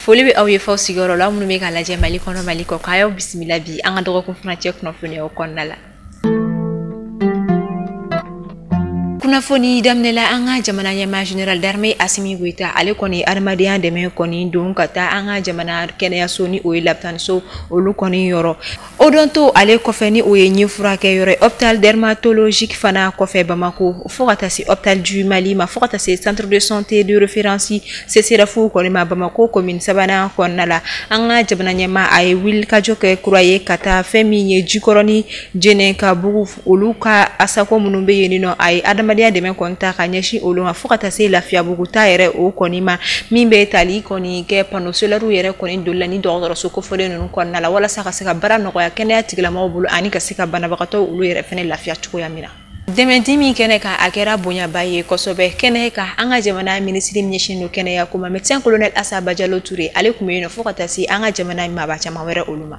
foli bɛ aw ye f'aw sigiyɔrɔ la minnu bɛ k'an lajɛ mali kɔnɔ mali kɔkan aw bisimila bi an ka dɔgɔkun furancɛ kunnafoniyaw kɔnɔna la kunnafoni daminɛla an ka jamana ɲɛmaa général d'armée asimi goita ale kɔni adamadenya dɛmɛ kɔni don ka taa an ka jamana kɛnɛyaso ni o ye labitaniso olu kɔni yɔrɔ odonto ale kɔfɛ ni o ye ɲin furakɛyɔrɔ hôpital dermatologique fana kɔfɛ bamako fo ka taa se hôpital du mali ma fo ka taa se centre de santé de référence CSRef kɔni ma bamako commune sabanan kɔnɔna la an ka jamana ɲɛmaa a ye wulikajɔ kɛ kura ye ka taa fɛn min ye jikɔrɔni jɛnɛkabugu olu ka asako minnu bɛ yen nɔ a ye adamadenya dɛmɛ kɔni ta ka ɲɛsin olu ma fo ka taa se lafiyabugu ta yɛrɛ o kɔni ma min bɛ tali kɔni kɛ panneau solaire yɛrɛ kɔni doli la ni dɔgɔtɔrɔso kofɔlen ninnu kɔnɔna la walasa ka se ka baara nɔgɔya kɛnɛya tigilamɔgɔw bolo ani ka se ka banabagatɔ olu yɛrɛ fɛnɛ lafiya cogoya min na dɛmɛdi min kɛnɛ kan a kɛra bonyaba ye kosɛbɛ kɛnɛ kan an ka jamana minisiri ɲɛsin don kɛnɛya ko ma médecin colonel asa bajalo ture ale kun bɛ yen nɔ fo ka taa se an ka jamana maaba caman wɛrɛ olu ma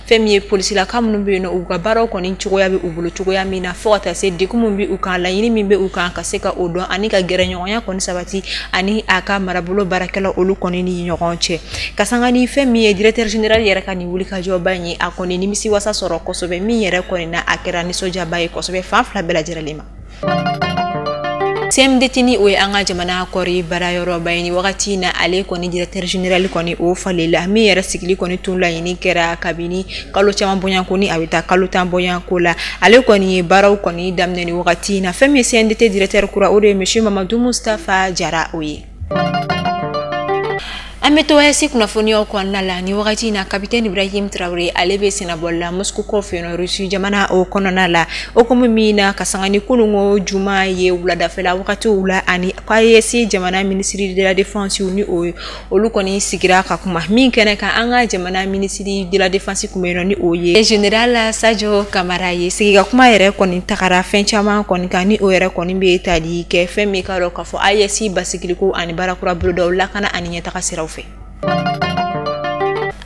fɛn min ye polisilaka minnu bɛ yen nɔ u ka baaraw kɔni cogoya bɛ u bolo cogoya min na fo ka taa se degun min bɛ u kan laɲini min bɛ u kan ka se ka o dɔn ani ka gɛrɛɲɔgɔnya kɔni sabati ani a ka marabolo baarakɛla olu kɔni ni ɲɔgɔn cɛ ka sanga ni fɛn min ye directeur général yɛrɛ ka nin wulikajɔba in ye a kɔni nimisi wasa sɔrɔ kosɛbɛ min yɛrɛ kɔni na a kɛra nisɔndiyaba ye kosɛbɛ fan fila bɛɛ lajɛlen ma CMDT ni o ye an ka jamana kɔri baarayɔrɔba ye ni wagati in na ale kɔni directeur général kɔni o falenna min yɛrɛ sigili kɔni tun laɲini kɛra kabini kalo caman bɔɲanko ni a bɛ taa kalo tan bɔɲanko la ale kɔni ye baaraw kɔni daminɛ ni wagati in na fɛn min ye CMDT directeur kura o de ye monsieur Mamadu Mustafa Jara o ye an bɛ to AES kunnafoniyaw kɔnɔna la ni wagati in na kapitɛn ibrahim tarawele ale bɛ sennabɔli la moscou kɔfɛ yen rusi jamana o kɔnɔna la o komi min na ka sanga ni kununko juma ye wuladafɛla wagatiw la ani k'AES jamana minisiri de la défense ni olu kɔni sigira ka kuma min kɛnɛ kan an ka jamana minisiri de la défense kun bɛ yen nɔ ni o ye général sajo kamara ye sigi ka kuma yɛrɛ kɔni tagara fɛn caman kɔni kan ni o yɛrɛ kɔni bɛ tali kɛ fɛn min ka dɔn fɔ AES basigiliko ani baara kura bolodaw lakana ani ɲɛtaga siraw fɛ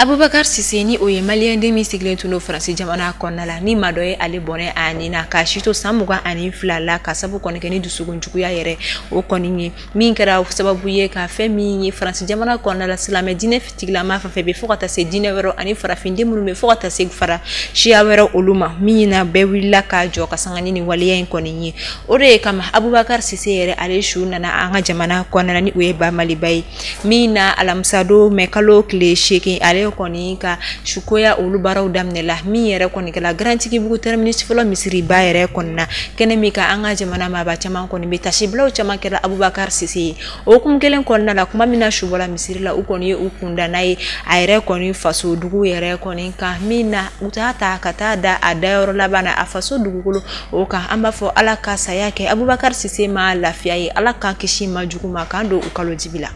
abubakar sise ni o ye maliyɛnden min sigilen tun don faransi jamana kɔnɔna la ni maa dɔ ye ale bɔnɛ a ni na k'a si to san mugan ani fila la ka sabu kɔni kɛ ni dusukun juguya yɛrɛ o kɔni ye min kɛra sababu ye ka fɛn min ye faransi jamana kɔnɔna la silamɛ diinɛ tigilama fɛn fɛn bɛ fo ka taa se diinɛ wɛrɛ ani farafinden minnu bɛ fo ka taa se fara siya wɛrɛ olu ma min na bɛɛ wulila ka jɔ ka sanga ni nin waleya in kɔni ye o de ye kama abubakari sise yɛrɛ ale su nana an ka jamana kɔnɔna ni o ye ba maliba ye min na alamisadon mɛ kalo tile seegin ale kɔni ka sukoya olu baaraw daminɛ la min yɛrɛ kɔni kɛla garantigibugu tɛrɛminisi fɔlɔ misiriba yɛrɛ kɔnɔna kɛnɛ min kan an ka jamana maaba caman kɔni bɛ tasibilaw caman kɛra abubakari sise ye o hukumu kelen kɔnɔna la kuma min na su bɔra misiri la u kɔni ye u kunda n'a ye a yɛrɛ kɔni faso dugu yɛrɛ kɔni kan min na u t'a ta ka taa da a dayɔrɔ laban na a faso dugukolo o kan an b'a fɔ ala ka saya kɛ abubakari sise ma lafiya ye ala k'an kisi maa jugu ma k'an don u kalo dibi la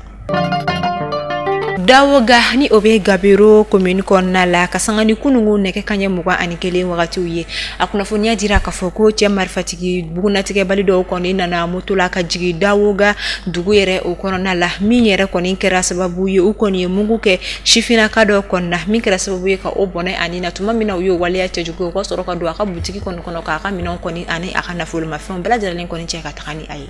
dawoga ni o bɛ gabero komini kɔnɔna la ka sanga ni kunungu nɛgɛ kanɲɛ mugan ani kelen wagatiw ye a kunnafoniya dira k'a fɔ ko cɛ marifati bugunnatigɛbali dɔw kɔni nana moto la ka jigin dawoga dugu yɛrɛ o kɔnɔna la min yɛrɛ kɔni kɛra sababu ye u kɔni ye mugu kɛ sifinnaka dɔ kɔni na min kɛra sababu ye ka o bɔnɛ a ni na tuma min na u y'o waleya cɛjugu u ka sɔrɔ ka don a ka butigi kɔni kɔnɔ k'a ka minɛnw kɔni ani a ka nafolomafɛnw bɛɛ lajɛlen kɔni cɛ ka taga ni a ye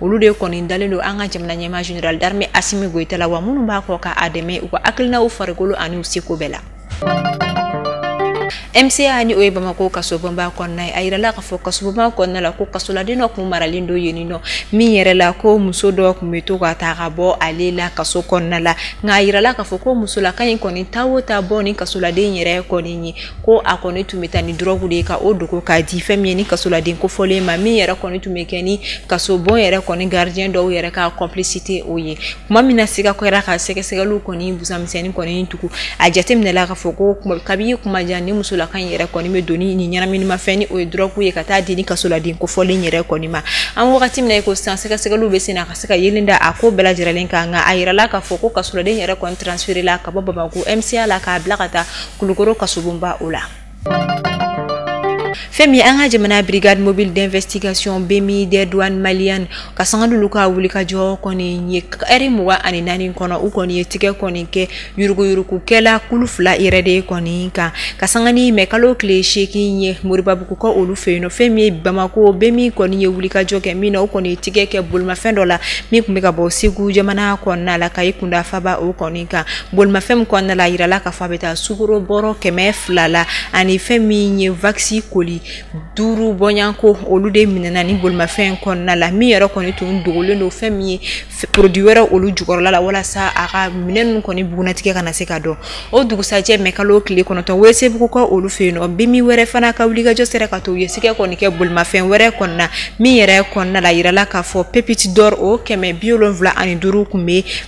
olu de kɔni dalen don an ka jamana ɲɛmaa general d'armée asimi goyita la wa minnu b'a kɔ ka a dɛmɛ u ka hakilinaw farikolo ani u seko bɛɛ la mca ni o ye bamako kasobonba kɔnɔna ye a yirala k'a fɔ kasobonba kɔnɔna la ko kasoladen dɔ kun maralen don yen nɔ min yɛrɛ la ko muso dɔ kun bɛ to ka taa ka bɔ ale la kaso kɔnɔna la nka a yirala k'a fɔ ko musolaka in kɔni taa o taa bɔ ni kasoladen yɛrɛ kɔni ye ko a kɔni tun bɛ taa ni dɔrɔgu de ye ka o dogo k'a di fɛn min ye ni kasoladen kofɔlen ma min yɛrɛ kɔni tun bɛ kɛ ni kasobon yɛrɛ kɔni gardien dɔw yɛrɛ ka complicité o ye tuma min na siga kɛra ka sɛgɛsɛgɛliw kɔni busamisɛnnin kɔni tugu a jateminɛla k'a fɔ ko kabi kuma jan ni musolaka in yɛrɛ kɔni bɛ don ni ɲɛnaminimafɛn ni o ye dɔrɔgu ye ka taa di ni kasoladen kofɔlen yɛrɛ kɔni ma an wagati min na ko sisan sɛgɛsɛgɛliw bɛ sen na ka se ka yeelen da a ko bɛɛ lajɛlen kan nka a yirala k'a fɔ ko kasoladen yɛrɛ kɔni transferela ka bɔ bamako mca la k'a bila ka taa kulukoro kasobonba o la fɛn min ye an ka jamana brigade mobile d'investigation bmi des douanes maliennes ka sanga n'olu ka wulikajɔ kɔni ye ɛri mugan ani naani kɔnɔ u kɔni ye tigɛ kɔni kɛ yuruguyurugukɛla kulu fila yɛrɛ de kɔni kan ka sanga ni mɛ kalo tile seegin ye moribabugu ka olu fɛ yen nɔ fɛn min ye bamako bmi kɔni ye wulikajɔ kɛ min na u kɔni ye tigɛ kɛ bolimafɛn dɔ la min tun bɛ ka bɔ segu jamana kɔnɔna la ka i kunda faba o kɔni kan bolimafɛn min kɔnɔna la a yirala k'a fɔ a bɛ taa sukoro bɔrɔ kɛmɛ fila la ani fɛn min ye wakisi koli duuru bɔɲanko olu de minɛna ni bolimafɛn kɔnɔna la min yɛrɛ kɔni tun dogolen don fɛn min ye porodi wɛrɛ olu jukɔrɔla la walasa a ka minɛn ninnu kɔni bugunnatigɛ kana se ka dɔn o dugusajɛ mɛ kalo tile kɔnɔntɔn welesebugu ka olu fɛ yen nɔ bmi wɛrɛ fana ka wulikajɔ sera ka to u ye tigɛ kɔni kɛ bolimafɛn wɛrɛ kɔnɔna min yɛrɛ kɔnɔna la yirala k'a fɔ pépite d'or o kɛmɛ bi wolonwula ani duuru tun bɛ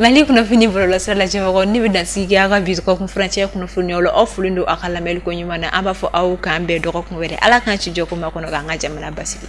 mali kunnafoni bɔlɔlɔsira lajɛbagaw nin bɛ dansigi aw ka bi dɔgɔkun furancɛ kunnafoniw la aw folen don aw ka lamɛnli ko ɲuman na an b'a fɔ aw k'an bɛn dɔgɔkun wɛrɛ ala k'an si jɔ k'o makɔnɔ k'an ka jamana basigi